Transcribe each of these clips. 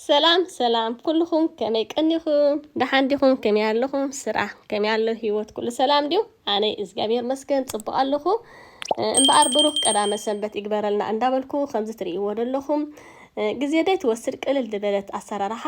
ሰላም ሰላም ኩልኹም ከመይ ቀኒኹም ደሓን ዲኹም ከመይ ኣለኹም ስራሕ ከመይ ኣሎ ሂወት ኩሉ ሰላም ድዩ ኣነ እግዚኣብሔር መስገን ፅቡቅ ኣለኹ እምበኣር ብሩክ ቀዳመ ሰንበት ይግበረልና እንዳበልኩ ከምዚ ትርእይዎ ዘለኹም ግዜ ደይ ትወስድ ቅልል ዝበለት ኣሰራርሓ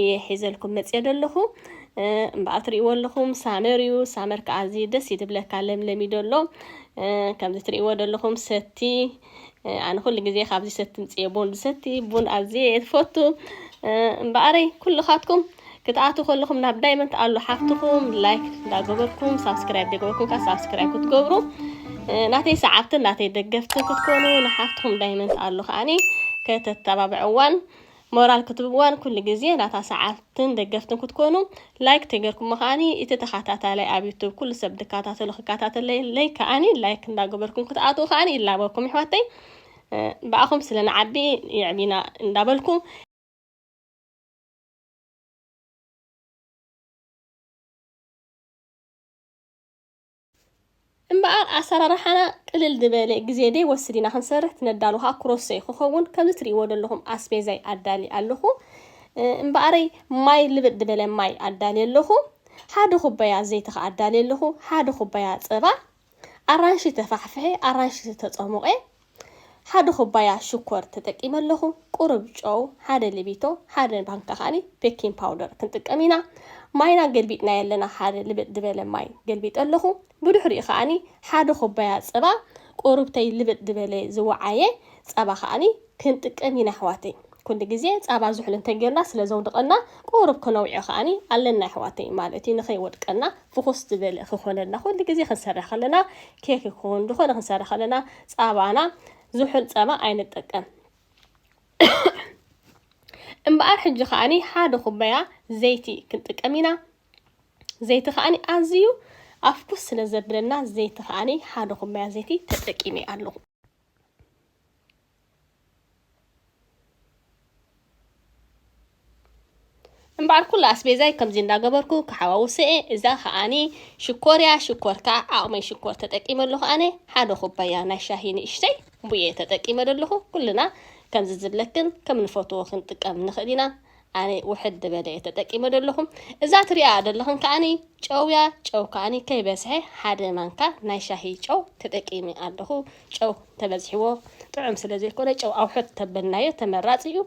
እየ ሒዘልኩም መፅየ ደለኹ እምበኣር ትርእይዎ ኣለኹም ሳመር እዩ ሳመር ከዓ እዚ ደስ እዩ ትብለካ ለምለም እዩ ደሎ ከምዚ ትርእይዎ ደለኹም ሰቲ ኣነ ኩሉ ግዜ ካብዚ ሰቲ ምፅየ ቡን ዝሰቲ ቡን ኣዝየ እየ ትፈቱ እምበኣረይ ኩልኻትኩም ክትኣትው ከለኹም ናብ ዳይመንት ኣሉ ሓፍትኹም ላይክ እንዳገበርኩም ሳብስክራይብ ደገበርኩም ከዓ ሳብስክራይብ ክትገብሩ ናተይ ሰዓብትን ናተይ ደገፍትን ክትኮኑ ንሓፍትኹም ዳይመንት ኣሉ ከዓኒ ከተተባብዕዋን ሞራል ክትብዋን ኩሉ ግዜ ናታ ሰዓብትን ደገፍትን ክትኮኑ ላይክ ተገርኩሞ ከኣኒ እቲ ተካታታላይ ኣብ ዩቱብ ኩሉ ሰብ ድካታተሎ ክካታተለለይ ከኣኒ ላይክ እንዳገበርኩም ክትኣትዉ ከኣኒ ይላበወኩም ይሕዋተይ ብኣኹም ስለ ንዓቢ የዕቢና እንዳበልኩ እምበኣር ኣሰራርሓና ቅልል ዝበለ ግዜ ደይ ወስድ ኢና ክንሰርሕ ትነዳሉ ከኣ ክሮሰይ ክኸውን ከምዚ ትርእይዎ ደለኹም ኣስቤዛይ ኣዳልየ ኣለኹ እምበኣረይ ማይ ልብጥ ድበለ ማይ ኣዳልየ ኣለኹ ሓደ ኩባያ ዘይቲ ከኣ ኣዳልየ ኣለኹ ሓደ ኩባያ ጸባ ኣራንሺ ተፋሕፍሐ ኣራንሺ ዝተጸሞቐ ሓደ ኩባያ ሽኮር ተጠቂመ ኣለኹ፣ ቁሩብ ጨው፣ ሓደ ልቢቶ፣ ሓደ ማንካ ከኣ ቤኪን ፓውደር ክንጥቀም ኢና። ማይና ገልቢጥናዮ ኣለና፣ ሓደ ልብጥ ድበለ ማይ ገልቢጠ ኣለኹ። ብድሕሪኡ ከኣ ሓደ ኩባያ ጸባ፣ ቁሩብተይ ልብጥ ድበለ ዝወዓየ ጸባ ከኣ ክንጥቀም ኢና ኣሕዋተይ። ኩሉ ግዜ ጸባ ዝሑል እንተጌርና ስለዘውድቀና ቁሩብ ክነውዕዮ ከኣ ኣለና ኣሕዋተይ፣ ማለት እዩ ንኸይወድቀና ፍኹስ ዝበለ ክኾነልና ኩሉ ግዜ ክንሰርሕ ከለና ኬክ ይኹን ዝኾነ ክንሰርሕ ከለና ጻባና ዝሑል ጸባ ኣይንጠቀም እምበኣር ሕጂ ከዓኒ ሓደ ኩባያ ዘይቲ ክንጥቀም ኢና ዘይቲ ከዓኒ ኣዝዩ ኣፍኩስ ስለ ዘብለና ዘይቲ ከዓኒ ሓደ ኩባያ ዘይቲ ተጠቂመ ኣለኹ እምበኣር ኩሉ ኣስቤዛይ ከምዚ እንዳገበርኩ ክሓዋውሰ እየ እዛ ከዓኒ ሽኮር እያ ሽኮር ከዓ ዓቕመይ ሽኮር ተጠቂመ ኣለኹ ኣነ ሓደ ኩባያ ናይ ሻሂ ንእሽተይ ቡየ ተጠቂመ ዘለኹ ኩልና ከምዚ ዝብለክን ከም ንፈትዎ ክንጥቀም ንኽእል ኢና ኣነ ውሕድ ዝበለ እየ ተጠቂመ ዘለኹ። እዛ ትሪኣኣ ዘለኽን ከኣኒ ጨው እያ፣ ጨው ከኣኒ ከይበዝሐ ሓደ ማንካ ናይ ሻሂ ጨው ተጠቂመ ኣለኹ። ጨው ተበዚሕዎ ጥዑም ስለ ዘይኮነ ጨው ኣውሕድ ተበልናዮ ተመራፂ እዩ።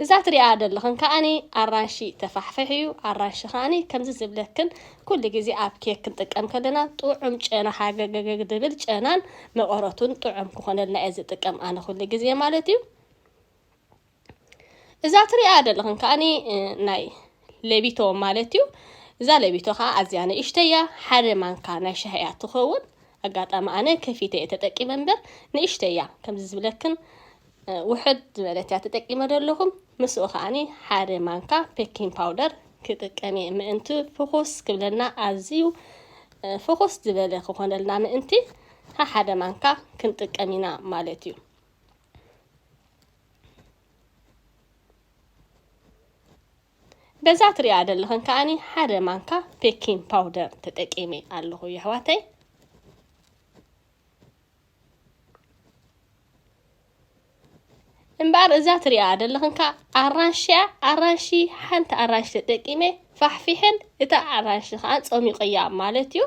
እዛ ትሪኣ ዘለኽን ከኣኒ ኣራንሺ ተፋሕፍሕ እዩ። ኣራንሺ ከኣኒ ከምዚ ዝብለክን ኩሉ ግዜ ኣብ ኬክ ክንጥቀም ከለና ጥዑም ጨና ሃገገገግ ዝብል ጨናን መቐረቱን ጥዑም ክኾነልና እየ ዝጥቀም ኣነ ኩሉ ግዜ ማለት እዩ። እዛ ትሪኣ ዘለኽን ከዓኒ ናይ ለቢቶ ማለት እዩ እዛ ለቢቶ ከዓ ኣዝያ ንእሽተይ እያ ሓደ ማንካ ናይ ሻሂ እያ ትኸውን ኣጋጣሚ ኣነ ከፊተ እየ ተጠቂመ እምበር ንእሽተይ እያ ከምዚ ዝብለክን ውሕድ ዝበለት እያ ተጠቂመ ዘለኹም ምስኡ ከዓኒ ሓደ ማንካ ፔኪን ፓውደር ክጥቀም እየ ምእንቲ ፍኹስ ክብለና ኣዝዩ ፍኹስ ዝበለ ክኾነልና ምእንቲ ሓደ ማንካ ክንጥቀም ኢና ማለት እዩ በዛ ትሪኣ ዘለኽን ከዓኒ ሓደ ማንካ ቤኪንግ ፓውደር ተጠቂመ ኣለኹ የሕዋተይ እምበኣር እዛ ትሪኣ ዘለኽን ከዓ ኣራንሽያ ኣራንሺ ሓንቲ ኣራንሺ ተጠቂመ ፋሕፊሐን እታ ኣራንሺ ከኣ ጸሚቐያ ማለት'ዩ።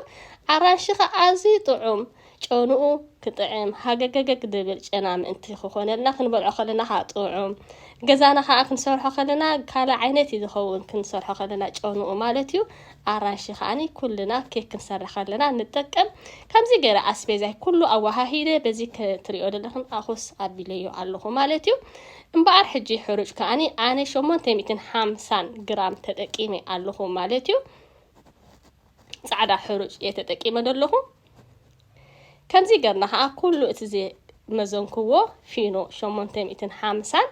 ኣራንሺ ከኣ ኣዝዩ ጥዑም ጨንኡ ክጥዕም ሃገገገግ ድብል ጨና ምእንቲ ክኾነልና ክንበልዖ ከለና ከኣ ጥዑም ገዛና ከኣ ክንሰርሖ ከለና ካልእ ዓይነት እዩ ዝኸውን ክንሰርሖ ከለና ጨንኡ ማለት'ዩ። ኣራንሺ ከኣኒ ኩልና ኬክ ክንሰርሕ ከለና ንጠቀም። ከምዚ ገይረ ኣስቤዛይ ኩሉ ኣወሃሂደ በዚ ክትሪኦ ዘለኽን ኣኹስ ኣቢለዮ ኣለኹ ማለት'ዩ። እምበኣር ሕጂ ሕሩጭ ከኣ ኣነ ሸሞንተ ሚእትን ሓምሳን ግራም ተጠቂመ ኣለኹ ማለት እዩ። ጻዕዳ ሕሩጭ እየ ተጠቂመ ዘለኹ። ከምዚ ገርና ከኣ ኩሉ እቲ ዝመዘንክዎ ፊኖ ሸሞንተ ሚእትን ሓምሳን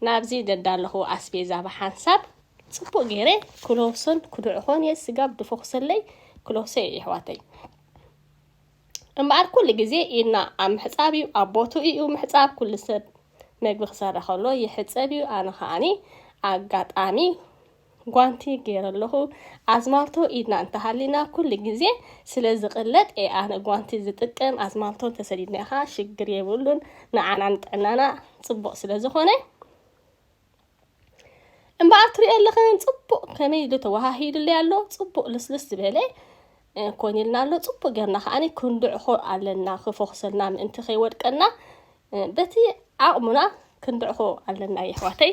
ናብዚ ዘዳለኹዎ ኣስቤዛ ብሓንሳብ ጽቡቕ ገይረ ክለውሶን ክድዕኾን እየ። ስጋብ ድፎ ክሰለይ ክለውሶ እየ የሕዋተይ። እምበኣር ኩሉ ግዜ ኢድና ኣብ ምሕጻብ እዩ ኣብ ቦትኡ እዩ ምሕጻብ ኩሉ ሰብ መግቢ ክሰርሕ ከሎ ይሕጸብ እዩ ኣነ ከኣኒ ኣጋጣሚ ጓንቲ ገይረ ኣለኹ ኣዝማልቶ ኢድና እንተሃሊና ኩሉ ግዜ ስለ ዝቕለጥ እየ ኣነ ጓንቲ ዝጥቀም ኣዝማልቶ እንተሰዲድና ኢኻ ሽግር የብሉን ንዓና ንጥዕናና ጽቡቕ ስለ ዝኾነ እምበኣር ትሪኦ ኣለኽን ፅቡቕ ከመይ ኢሉ ተወሃሂዱለይ ኣሎ ፅቡቕ ልስልስ ዝበለ ኮን ኢልና ኣሎ ፅቡቕ ጌርና ከዓኒ ክንድዕኾ ኣለና ክፎኽሰልና ምእንቲ ከይወድቀና በቲ ዓቕሙና ክንድዕኾ ኣለና የሕዋተይ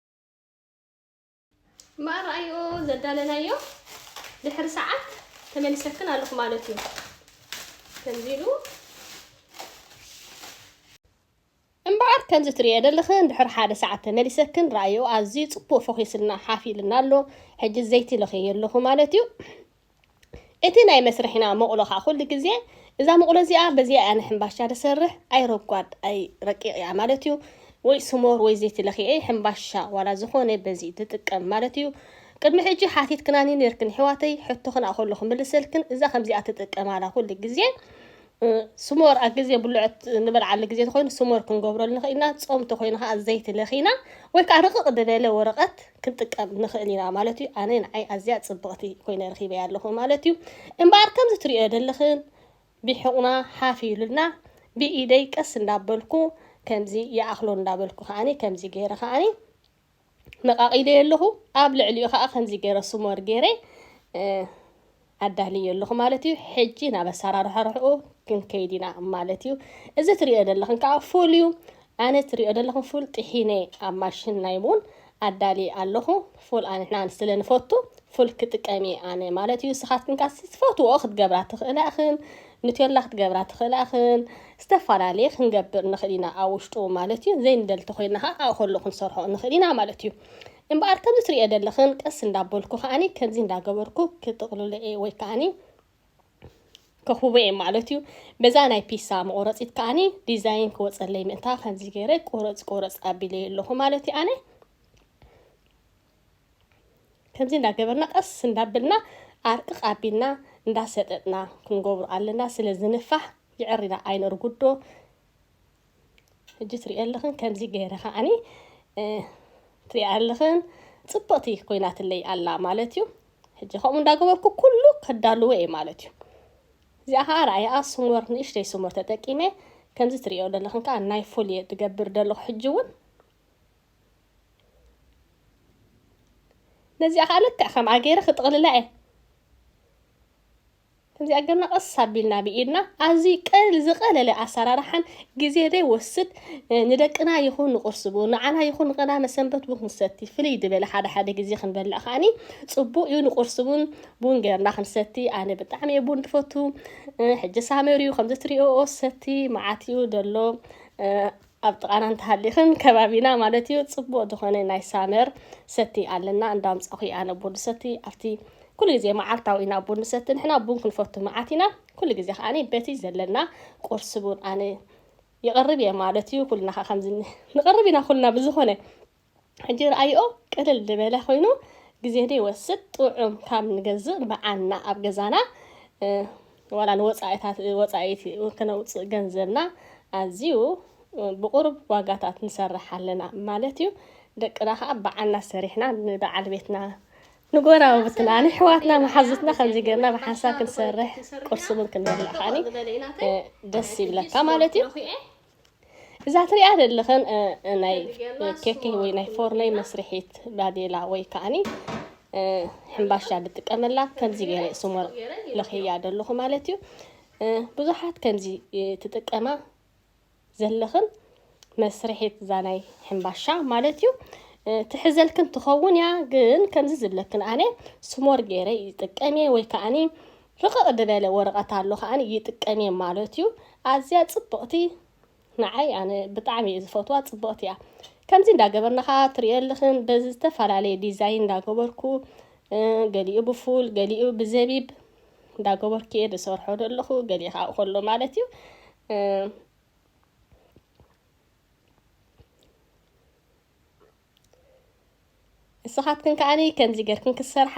ማእራኣዮ ዘዳለናዮ ድሕሪ ሰዓት ተመሊሰክን ኣለኹ ማለት እዩ ከምዚ ኢሉ እምበኣር ከምዚ ትርእዮ ዘለኽን ድሕሪ ሓደ ሰዓት ተመሊሰክን ረኣዮ ኣዝዩ ፅቡቅ ፎኺስልና ሓፍ ኢልና ኣሎ ሕጂ ዘይቲ ለኽየዮ ኣለኹ ማለት እዩ እቲ ናይ መስርሒና መቑሎ ከኣ ኩሉ ግዜ እዛ መቑሎ እዚኣ በዚኣ እያ ንሕምባሻ ድሰርሕ ኣይ ረጓድ ኣይ ረቂቕ እያ ማለት እዩ ወይ ስሞር ወይ ዘይቲ ለኺዔ ሕምባሻ ዋላ ዝኾነ በዚ ድጥቀም ማለት እዩ ቅድሚ ሕጂ ሓቲትክናኒ ኔርክን የሕዋተይ ሕቶኽን ኣኾሎ ክምልሰልክን እዛ ከምዚኣ ትጥቀማላ ኩሉ ግዜ ስሞር ኣብ ግዜ ብልዖት ንበልዓሉ ግዜ ተኮይኑ ስሞር ክንገብረሉ ንኽእል ኢና ጾም ተኮይኑ ከዓ ዘይቲ ለኺና ወይ ከዓ ርቕቕ ዝበለ ወረቐት ክንጥቀም ንኽእል ኢና ማለት እዩ ኣነ ንዓይ ኣዝያ ጽብቕቲ ኮይነ ረኺበያ ኣለኹ ማለት እዩ እምበኣር ከምዚ ትሪኦ ዘለኽን ቢሕቑና ሓፍ ኢሉልና ብኢደይ ቀስ እንዳበልኩ ከምዚ ይኣኽሎ እንዳበልኩ ከዓኒ ከምዚ ገይረ ከዓኒ ነቃቂለዮ ኣለኹ ኣብ ልዕሊኡ ከኣ ከምዚ ገረ ስሞር ገረ ኣዳልዮ ኣለኹ ማለት እዩ ሕጂ ናብ ኣሰራርሕርሕኡ ክንከይድ ኢና ማለት እዩ እዚ ትሪኦ ዘለኽን ከዓ ፉል እዩ ኣነ ትሪኦ ዘለኽን ፉል ጥሒነ ኣብ ማሽን ናይ ቡን ኣዳሊ ኣለኹ ፉል ኣንሕና ስለ ንፈቱ ፉል ክጥቀም እየ ኣነ ማለት እዩ ስኻትክን ካስ ትፈትዎ ክትገብራ ትኽእላ እኽን ንቴላ ክትገብራ ትኽእላ እኽን ዝተፋላለየ ክንገብር ንኽእል ኢና ኣብ ውሽጡ ማለት እዩ ዘይንደል ተኾይና ኸዓ ኣብኡ ከሎ ክንሰርሖ ንኽእል ኢና ማለት እዩ እምበኣር ከምዚ ትሪኦ ዘለኽን ቀስ እንዳበልኩ ከዓኒ ከምዚ እንዳገበርኩ ክጥቕልሎ እየ ወይ ከዓኒ ከኽቡቦ እየ ማለት እዩ በዛ ናይ ፒሳ መቑረፂት ከዓኒ ዲዛይን ክወፀለይ ምእንታ ከምዚ ገይረ ቁረፅ ቁረፅ ኣቢለየ ኣለኹ ማለት እዩ ኣነ ከምዚ እንዳገበርና ቀስ እንዳበልና ኣርቅቕ ኣቢልና እንዳሰጠጥና ክንገብሩ ኣለና ስለ ዝንፋሕ ይዕሪና ኣይነርጉዶ ሕጂ ትሪኦ ኣለኽን ከምዚ ገይረ ከዓኒ ትሪኦ ኣለኽን ፅብቕቲ ኮይናትለይ ኣላ ማለት እዩ ሕጂ ከምኡ እንዳገበርኩ ኩሉ ከዳልዎ እየ ማለት እዩ እዚኣ ከዓ ርኣያ ስሞር ንእሽተይ ስሞር ተጠቂመ ከምዚ ትሪኦ ዘለኽን ከዓ ናይ ፉል እየ ዝገብር ዘለኹ ሕጂ እውን ነዚኣ ከዓ ልክዕ ከምኣ ገይረ ክጥቕልላ እየ ከምዚኣ ገርና ቀስ ኣቢልና ብኢድና ኣዝዩ ቀል ዝቐለለ ኣሰራርሓን ግዜ ዘይወስድ ንደቅና ይኹን ንቁርሲ ብኡ ንዓና ይኹን ንቐዳመ ሰንበት ቡን ክንሰቲ ፍልይ ዝበለ ሓደ ሓደ ግዜ ክንበልዕ ከዓኒ ፅቡቅ እዩ ንቁርሲ ቡን ቡን ገርና ክንሰቲ ኣነ ብጣዕሚ እየ ቡን ትፈቱ ሕጂ ሳመር እዩ ከምዚ ትሪኦ ሰቲ መዓት እዩ ዘሎ ኣብ ጥቃና እንተሃሊክን ከባቢና ማለት እዩ ፅቡቅ ዝኮነ ናይ ሳመር ሰቲ ኣለና እንዳምፃኩ እየ ኣነ ቡን ዝሰቲ ኣብቲ ኩሉ ግዜ መዓልታዊ ኢና ቡን ንሰቲ ንሕና ቡን ክንፈቱ መዓት ኢና ኩሉ ግዜ ከዓ በቲ ዘለና ቁርሲ ቡን ኣነ ይቅርብ እየ ማለት እዩ ኩልና ከዓ ከምዚ ንቅርብ ኢና ኩልና ብዝኮነ ሕጂ ርኣይኦ ቅልል ልበለ ኮይኑ ግዜ ደይወስድ ጥዑም ካብ ንገዝእ ብዓና ኣብ ገዛና ዋላ ንወጻኢታት ወጻኢት ክነውጽእ ገንዘብና ኣዝዩ ብቑሩብ ዋጋታት ንሰርሕ ኣለና ማለት እዩ ደቅና ከኣ ብዓና ሰሪሕና ንበዓል ቤትና ንጎራውብትና ንሕዋትና መሓዙትና ከምዚ ገርና ብሓንሳብ ክንሰርሕ ቁርሲ እውን ክንበልዕ ከኣኒ ደስ ይብለካ ማለት እዩ እዛ ትሪኣ ዘለኽን ናይ ኬኪ ወይ ናይ ፎርነይ መስርሒት ባዴላ ወይ ከዓኒ ሕምባሻ ዝጥቀመላ ከምዚ ገይረ ስሞር ለኽያ ዘለኹ ማለት እዩ ብዙሓት ከምዚ ትጥቀማ ዘለኽን መስርሒት እዛ ናይ ሕምባሻ ማለት እዩ ትሕዘልክን ትኸውን እያ ግን ከምዚ ዝብለክን ኣነ ስሞር ገይረ ይጥቀም እየ ወይ ከዓኒ ርቕቕ ድበለ ወረቐት ኣሎ ከኣ ይጥቀም እየ ማለት እዩ ኣዝያ ጽብቕቲ ንዓይ ኣነ ብጣዕሚ እየ ዝፈትዋ ጽብቕቲ እያ ከምዚ እንዳገበርና ከኣ ትርእዮ ኣለኽን በዚ ዝተፈላለየ ዲዛይን እንዳገበርኩ ገሊኡ ብፉል ገሊኡ ብዘቢብ እንዳገበርኩ እየ ዝሰርሖ ዘለኹ ገሊኡ ከኣ ከሎ ማለት እዩ ንስኻትክን ከዓኒ ከምዚ ገርክን ክትሰርሓ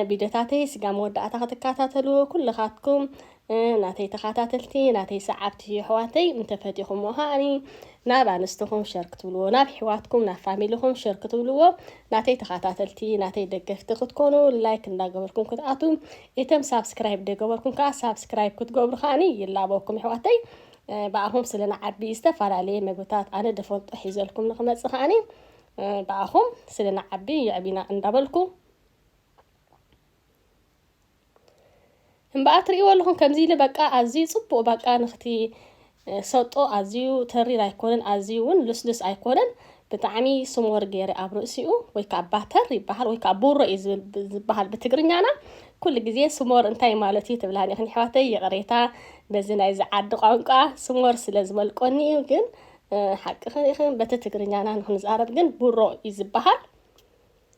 ቪድዮታተይ ስጋ መወዳእታ ክትከታተሉ ኩልኻትኩም ናተይ ተኸታተልቲ ናተይ ሰዓብቲ ኣሕዋተይ እንተፈቲኹምዎ ከዓኒ ናብ ኣንስትኹም ሸር ክትብልዎ ናብ ሕዋትኩም ናብ ፋሚልኹም ሸር ክትብልዎ ናተይ ተኸታተልቲ ናተይ ደገፍቲ ክትኮኑ ላይክ እንዳገበርኩም ክትኣቱ እቶም ሳብስክራይብ ደገበርኩም ከዓ ሳብስክራይብ ክትገብሩ ከዓኒ ይላበኩም ኣሕዋተይ ብኣኹም ስለ ንዓቢ ዝተፋላለየ መግብታት ኣነ ድፈልጦ ሒዘልኩም ንክመጽእ ከኣኒ ብኣኹም ስለ ንዓቢ የዕቢና እንዳበልኩ እምበኣር ትርእይዎ ኣለኹም ከምዚ ኢለ በቃ ኣዝዩ ጽቡቕ በቃ ንክቲ ሰጦ ኣዝዩ ተሪር ኣይኮነን ኣዝዩ እውን ልስልስ ኣይኮነን ብጣዕሚ ስሞር ገይረ ኣብ ርእሲኡ ወይ ከዓ ባተር ይበሃል ወይ ከዓ ቡሮ እዩ ዝበሃል ብትግርኛና ኩሉ ግዜ ስሞር እንታይ ማለት እዩ ትብላ ኒኽን ኣሕዋተይ ይቕሬታ በዚ ናይዚ ዓዲ ቋንቋ ስሞር ስለ ዝመልቆኒ እዩ ግን ሓቅኽን ኢኽን በቲ ትግርኛና ንክንዛረብ ግን ቡሮ እዩ ዝበሃል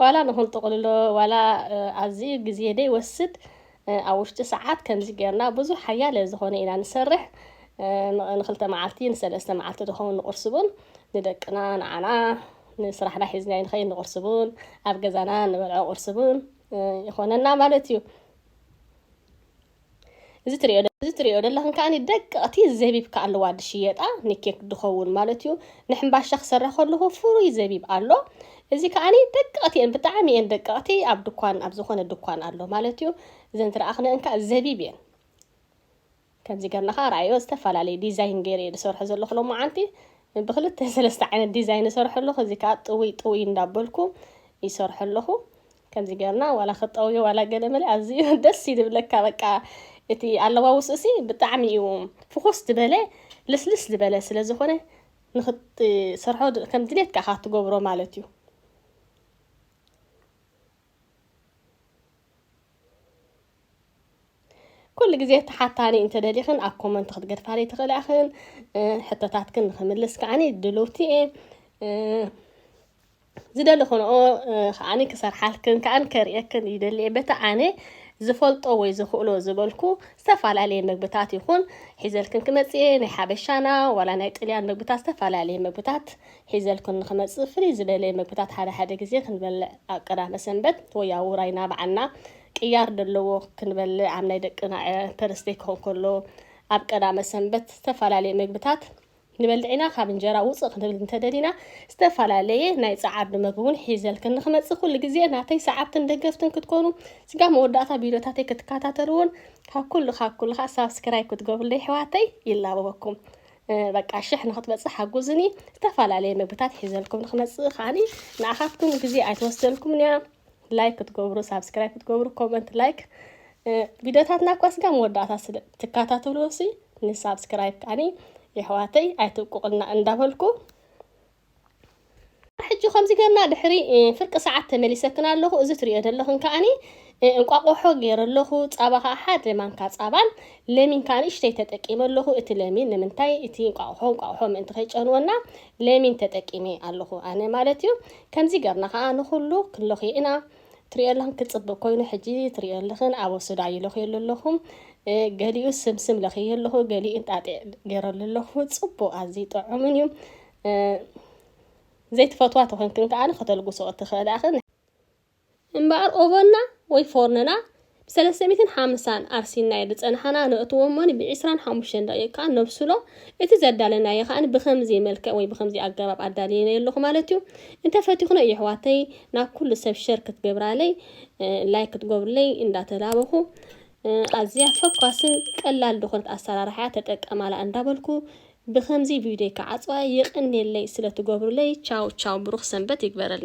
ዋላ ንክንጥቕልሎ ዋላ ኣዝዩ ግዜ ደይወስድ ኣብ ውሽጢ ሰዓት ከምዚ ጌርና ብዙሕ ሓያለ ዝኾነ ኢና ንሰርሕ ንክልተ መዓልቲ ንሰለስተ መዓልቲ ዝኸውን ንቑርሲ ቡን ንደቅና ንዓና ንስራሕና ሒዝናዮ ንኸይድ ንቑርሲ ቡን ኣብ ገዛና ንበልዖ ቁርሲ ቡን ይኾነና ማለት እዩ እዚ ትሪኦ እዚ ትሪኦ ደለኽን ከዓኒ ደቀቕቲ ዘቢብ ከኣለዋ ድሽየጣ ንኬክ ድኸውን ማለት እዩ ንሕምባሻ ክሰራ ከለኹ ፍሩይ ዘቢብ ኣሎ እዚ ከዓኒ ደቀቕቲ እየን ብጣዕሚ እየን ደቀቕቲ ኣብ ድኳን ኣብ ዝኾነ ድኳን ኣሎ ማለት እዩ እዘን ትረኣኽነን ከዓ ዘቢብ እየን ከምዚ ገርና ከዓ ረኣዮ ዝተፈላለየ ዲዛይን ገይረ እየ ዝሰርሖ ዘለኹ ሎማዓንቲ ብክልተ ሰለስተ ዓይነት ዲዛይን ዝሰርሖ ኣለኹ እዚ ከዓ ጥውይ ጥውይ እንዳበልኩ ይሰርሖ ኣለኹ ከምዚ ገርና ዋላ ክጠውዮ ዋላ ገለመለ ኣዝዩ ደስ እዩ ዝብለካ በቃ እቲ ኣለዋውስኡሲ ብጣዕሚ እዩ ፍኹስ ዝበለ ልስልስ ዝበለ ስለ ዝኾነ ንክትሰርሖ ከም ድሌትካ ኢኻ ትገብሮ ማለት እዩ ኩሉ ግዜ ተሓታኒ እንተደሊኽን ኣብ ኮመንት ክትገድፋኒ ትኽእላ ኢኽን ሕቶታትክን ንክምልስ ከዓኒ ድልውቲ እየ ዝደሊ ኹነኦ ኸኣኒ ክሰርሓልክን ከኣን ከርእየክን ይደሊየ በቲ ኣነ ዝፈልጦ ወይ ዝኽእሎ ዝበልኩ ዝተፈላለየ ምግብታት ይኹን ሒዘልክን ክመጽእየ ናይ ሓበሻና ዋላ ናይ ጥልያን ምግብታት ዝተፈላለየ ምግብታት ሒዘልክን ንኽመጽእ ፍልይ ዝበለ ምግብታት ሓደ ሓደ ግዜ ክንበልዕ ኣብ ቀዳመ ሰንበት ወይ ኣብ ውራይ ናብዓና ቅያር ደለዎ ክንበልዕ ኣብ ናይ ደቅና ፐርስደይ ክኾን ከሎ ኣብ ቀዳመ ሰንበት ዝተፈላለየ ምግብታት ንበልዒና ካብ እንጀራ ውጽእ ክንብል እንተደሊና ዝተፈላለየ ናይ ጸዓዱ መግቢውን ሒዘልክን ንክመጽእ ኩሉ ግዜ ናተይ ሰዓብትን ደገፍትን ክትኮኑ ስጋ መወዳእታ ቪድዮታተይ ክትከታተልዎን ካብ ኩሉ ካብ ኩሉ ከኣ ሳብስክራይብ ክትገብሩለይ ኣሕዋተይ ይላበበኩም በቃ ሽሕ ንክትበጽሕ ሓጉዝኒ ዝተፈላለየ መግብታት ሒዘልኩም ንክመጽእ ከዓኒ ንኣኻትኩም ግዜ ኣይትወስደልኩምን እያ ላይክ ክትገብሩ ሳብስክራይብ ክትገብሩ ኮመንት ላይክ ቪድዮታትና እኳ ስጋ መወዳእታ ስለ ትከታተሉ ሲ ንሳብስክራይብ ከዓኒ የሕዋተይ ኣይትብቁቕልና እንዳበልኩ ሕጂ ከምዚ ገርና ድሕሪ ፍርቂ ሰዓት ተመሊሰክን ኣለኹ እዚ ትሪኦ ዘለኽን ከዓኒ እንቋቆሖ ገይረ ኣለኹ ፃባ ከዓ ሓደ ማንካ ፃባን ለሚን ከዓ ንእሽተይ ተጠቂመ ኣለኹ እቲ ለሚን ንምንታይ እቲ እንቋቁሖ እንቋቁሖ ምእንቲ ከይጨንወና ለሚን ተጠቂመ ኣለኹ ኣነ ማለት እዩ ከምዚ ገርና ከኣ ንኩሉ ክንሎክዮ ኢና። ትሪኦላን ክጽብቅ ኮይኑ ሕጂ ትሪኦልኽን ኣብ ወሱዳይ ይሎክየሉ ኣለኹ ገሊኡ ስምስም ለክየ ኣለኹ ገሊኡ እንጣጢዕ ገረሉ ኣለኹ ጽቡቅ ኣዝዩ ጥዑምን እዩ ዘይትፈትዋ ተኮንክን ከኣ ከተልጉስኦ ትክእላ ኢኽን። እምበኣር ኦቨንና ወይ ፎርንና ብሰለስተ ሚእትን ሓምሳን ኣርሲናዮ ዝጸናሕና ነእትዎ እሞኒ ብዒስራን ሓሙሽተን ደቒቕ ከኣ ነብስሎ፣ እቲ ዘዳለናዮ ከኣ ብኸምዚ መልክዕ ወይ ብኸምዚ ኣገባብ ኣዳልየዮ ኣለኹ ማለት እዩ። እንተ ፈቲኽኖ የሕዋተይ ናብ ኩሉ ሰብ ሸር ክትገብራለይ ላይክ ክትገብሩለይ እንዳ ተላበኹ ኣዝያ ፈኳስን ቀላል ዝኾነት ኣሰራርሓ እያ ተጠቀማላ እንዳ በልኩ ብኸምዚ ቪድዮይ ክዓጽዋ የቐንየለይ ስለ ትገብሩለይ ቻው ቻው ብሩኽ ሰንበት ይግበረልና።